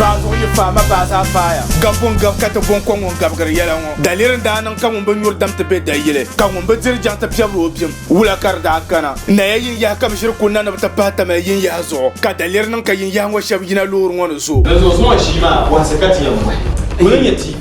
Baazuɣu yi faai ma baa zaa faaya. Gabbu n gabi ka ti bo n ko ŋun gabigiri yɛla ŋɔ. Daliri n daa niŋ ka ŋun bi nyuri dam ti be dayili, ka ŋun bi diri jaŋ ti piɛbiri o bim. Wula ka di daa gana? Naya yin yaha ka bi ʒiri kul na ni bi ti pahi tamali yin yaha zuɣu, ka daliri niŋ ka yin yaha ŋɔ shɛb yina loori ŋɔ ni zo. Dinzuɣu zuŋɔ ʒii maa bɔhisi ka ti yɛn bɔhi. Kul n nyɛ TV.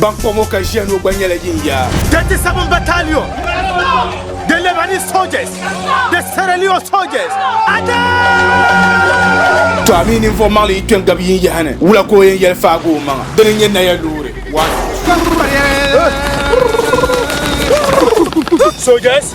Ban kpa ŋɔ ka ʒiya ŋɔ gba nyɛla yin ya. 37 Battalion, the Lebanese soldiers, the Sierra Leone soldiers, Attack! To a mi ninvuɣ maŋli yi kpe n-gabi yin yaha ni, wula ka o yɛn yɛli faagi o maŋa? Dini n-nyɛ naya loori. One. Soldiers!